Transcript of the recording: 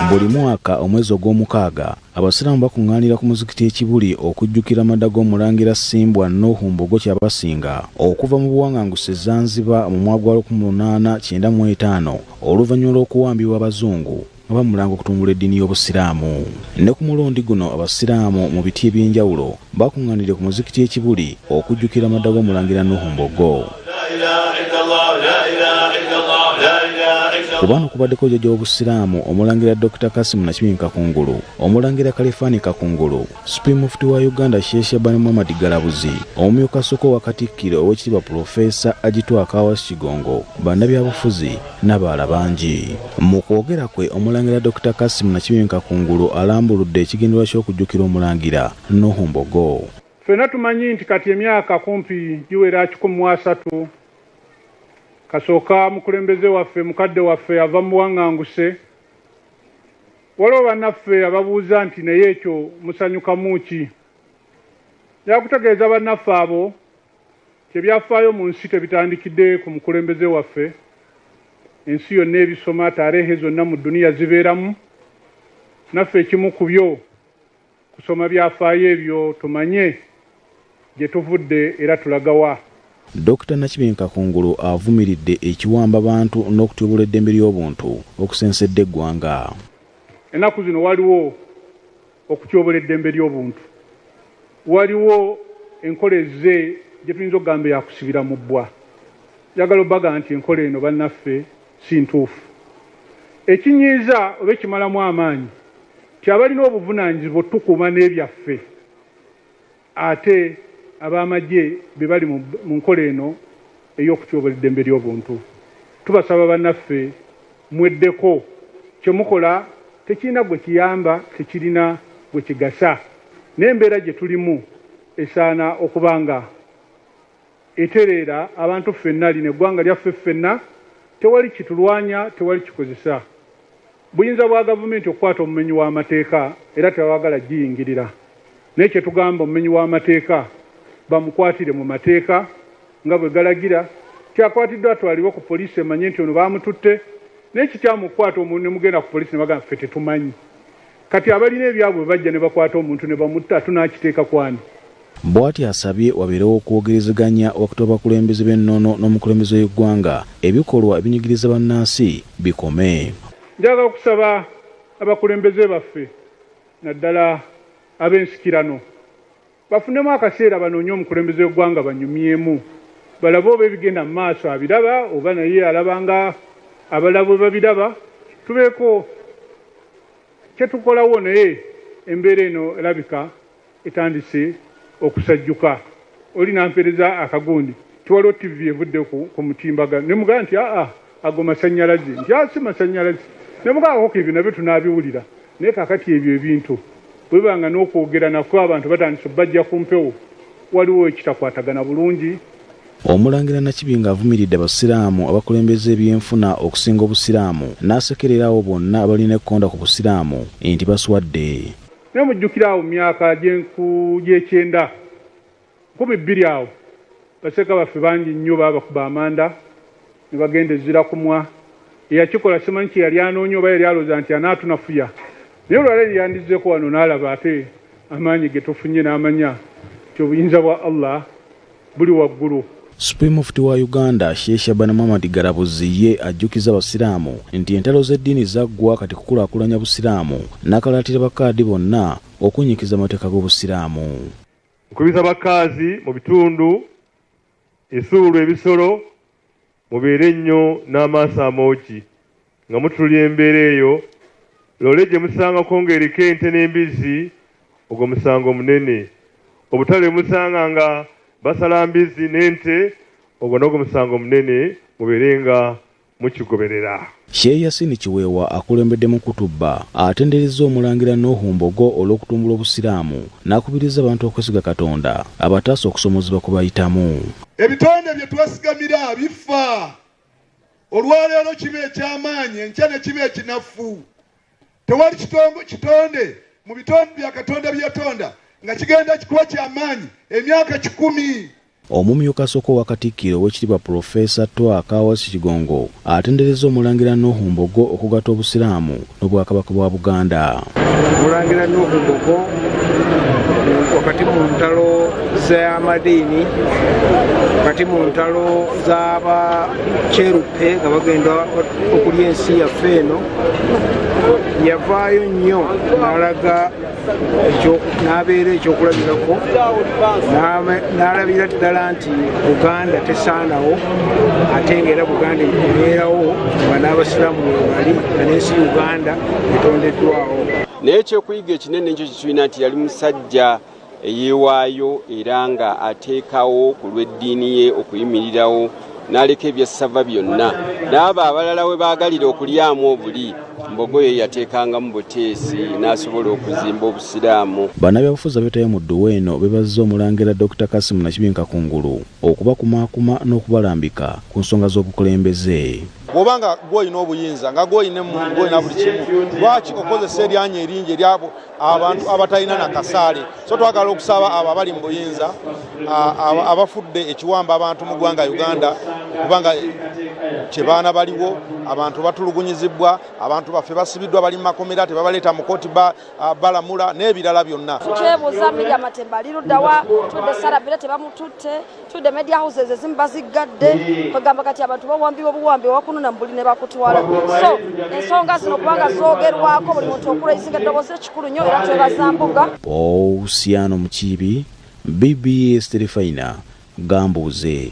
buli mwaka omwezi ogw'omukaaga abasiraamu bakuŋŋaanira ku muzikiti ekibuli okujjukira amada g'omulangira simbwa nuhu mbogo kyabasinga okuva mu buwaŋŋanguse zanziba mu mwaka gwa 1895 oluvannyuma lw'okuwambibwa abazungu nga bamulanga okutumbula eddiini y'obusiraamu ne ku mulundi guno abasiraamu mu biti eby'enjawulo bakuŋŋaanidde ku muzikiti ekibuli okujjukira amada g'omulangira nuhu mbogo ku baano kubaddeko jjaja w'obusiraamu omulangira dr kasimu nakibinyi kakungulu omulangira kalifaani kakungulu supreme mufti wa uganda sheikh shabani muhammad galabuzi omumyuka asooka owa katikkiro ow'ekitiibwa pulofeesa agitwa akawas kigongo bannabyabufuzi n'abaala bangi mu kwogera kwe omulangira dr kasimu nakibinyi kakungulu alambuludde ekigendererwa ky'okujjukira omulangira nuhu mbogo Ffena tumanyi nti kati emyaka kumpi giwera kikumi mu asatu kasooka mukulembeze waffe mukadde waffe ava mubuwanganguse waliwo banaffe ababuuza nti naye ekyo musanyukamu ki yakutegeeza banaffe abo kyebyafaayo mu nsi tebitandikidde ku mukulembeze waffe ensi yonna ebisoma taarehe zonna mu duniya zibeeramu naffe ekimu ku byo Kusoma byafaayo ebyo tumanye gye tuvudde era tulagawa. Dokita Nakibinge Kakungulu avumiridde ekiwamba bantu n'okutyoboola eddembe ly'obuntu okusensedde eggwanga. Ennaku zino waliwo okutyobola eddembe ly'obuntu, waliwo enkola ezze gye tuyinza okugamba eyakusibira mu bbwa. Njagala obaga nti enkola eno bannaffe si ntuufu. Ekinyiiza oba ekimalamu amaanyi nti abalina obuvunaanyizibwa otukuuma n'ebyaffe ate ab'amagye be bali mu nkola eno ey'okutyobola eddembe ly'obuntu tubasaba bannaffe mweddeko kye mukola tekirina gwe kiyamba tekirina gwe kigasa n'embeera gye tulimu esaana okuba nga Etereera abantu ffenna, lino eggwanga lyaffe ffenna, tewali kitulwanya, tewali kikozesa buyinza bwa gavumenti okukwata omumenyi w'amateeka era tebawagala giyingirira naye kye tugamba omumenyi w'amateeka bamukwatire mu mateeka nga bwe galagira kyakwatiddwa atwalibwe ku poliisi emanye nti ono baamututte naye kikyamu okukwata omuntu ne mugenda ku poliisi ne bagamba ffe tetumanyi Kati abalina ebyabwe bajja ne bakwata omuntu ne bamutta tunaakiteeka kwani? Bwati asabye wabeerewo okwogerezeganya wakati w'abakulembeze b'ennono n'omukulembeze w'eggwanga ebikolwa ebinyigiriza bannansi bikome. Njagala okusaba abakulembeze baffe naddala ab'ensikirano Bafunemu akaseera banoonye omukulembeze w'eggwanga banyumyemu balabe oba ebigenda mu maaso abiraba oba naye alaba nga abalala bwe babiraba tubeeko kye tukolawo naye embeera eno erabika etandise okusajjuka oli nampereza akagundi tiwaliwo ttivi evudde ku mutimbagano ne mugamba nti aa ago masanyalaze nti asi masanyalaze nebwawoko ebyo nabyo tunabiwulira naye kakati ebyo ebintu bwebanga n'okwogera nakwo abantu batandise bajja ku mpewo waliwo ekitakwatagana bulungi Omulangira Nakibinga avumiridde Abasiraamu abakulembeza ebyenfuna okusinga Obusiraamu n'asekerera abo bonna abalina ekkonda ku Busiraamu nti baswadde. Naye mujjukire awo mu myaka gy'ekyenda Nkumi bbiri awo baseeka baffe bangi nnyo baabakuba amanda ne bagenda e Zirakumwa. Eyakikola simanyi kye yali anoonya oba yali alowooza nti anaatunafuya. Naye olwa leero yandizzeeko wano n'alaba ate amaanyi ge tufunye n'amanya nti obuyinza bwa Allah buli waggulu. Supreme Mufti wa Uganda, Sheikh Shaban Muhammad Galabuzi ye ajjukiza Abasiraamu nti entalo z'eddiini zaggwa kati kukulaakulanya Busiraamu n'akalaatira Bakaadi bonna okunnyikiza amateeka g'Obusiraamu. Nkubiza bakaazi mu bitundu esuulu ebisolo mubeere nnyo n'amaaso amoogi nga mutulira embeera eyo loole gye musangako ng'eriko ente n'embizzi ogwo musango munene obutale musanga nga basala mbizzi n'ente ogwo nogwo musango munene mubeere nga mukigoberera. Shehe Yasin Kiweewa akulembedde mu kutubba atenderezza Omulangira Nuhu Mbogo olw'okutumbula Obusiraamu n'akubirizza abantu okwesiga Katonda abataase okusomoozebwa kwe bayitamu. Ebitonde bye twesigamira bifa. Olwaleero kiba eky'amaanyi enkya ne kiba ekinafu. Tewali kitonde mu bitonde bya Katonda bye yatonda nga kigenda kikuwa ky'amaanyi emyaka kikumi. Omumyuka asooka owa Katikkiro Oweekitiibwa Pulofeesa Twaaka Awasu Kigongo atenderezza Omulangira Nuuhu Mbogo okugatta Obusiraamu n'Obwakabaka bwa Buganda. Omulangira Nuuhu Mbogo wakati mu ntalo z'amadiini, wakati mu ntalo z'abakyeruppe nga bagenda okulya ensi yaffe eno, yavaayo nnyo n'alaga ekyo n'abeera ekyokulabirako n'alabira ddala nti buganda tesaanawo ate ngaera buganda ebeerawo nga n'abasiraamu webali nga n'ensi uganda etondeddwawo naye ekyokuyiga ekinene ekyo kitulina nti yali musajja eyeewaayo era nga ateekawo ku lw'eddiini ye okuyimirirawo n'aleka ebyassava byonna n'abo abalala we baagalira okulyamu obuli mbogo ye yateekangamu buteesi n'asobola okuzimba obusiraamu bannabyabufuzi abeetayo mu dduwa eno bebazza omulangira dr kasimu nakibinka kungulu okubakumaakuma n'okubalambika ku nsonga z'obukulembeze bwoba nga gwolina obuyinza nga gwolina emmundu gwolina buli kimu lwaki okozesa eryanyi eringi eryabo abantu abatalina na kasaale so twagala okusaba abo abali mu buyinza abafudde ekiwamba abantu mu ggwanga uganda kubanga kyebaana baliwo abantu batulugunyizibwa abantu baffe basibiddwa bali mu makomera tebabaleeta mu kooti balamula n'ebirala byonna twebuuza miriamatemba liruddawa tudde sarabira tebamututte tudde media houses ezimu baziggadde kwegamba kati abantu bawambibwa obuwambi wakunona mubuli ne bakutwala so ensonga zino kubanga zoogerwako buli muntu okulaisinga eddoboozi ekikulu nnyo era twebaza mbuga pousiano mukiibi bbs terefayina gambuuze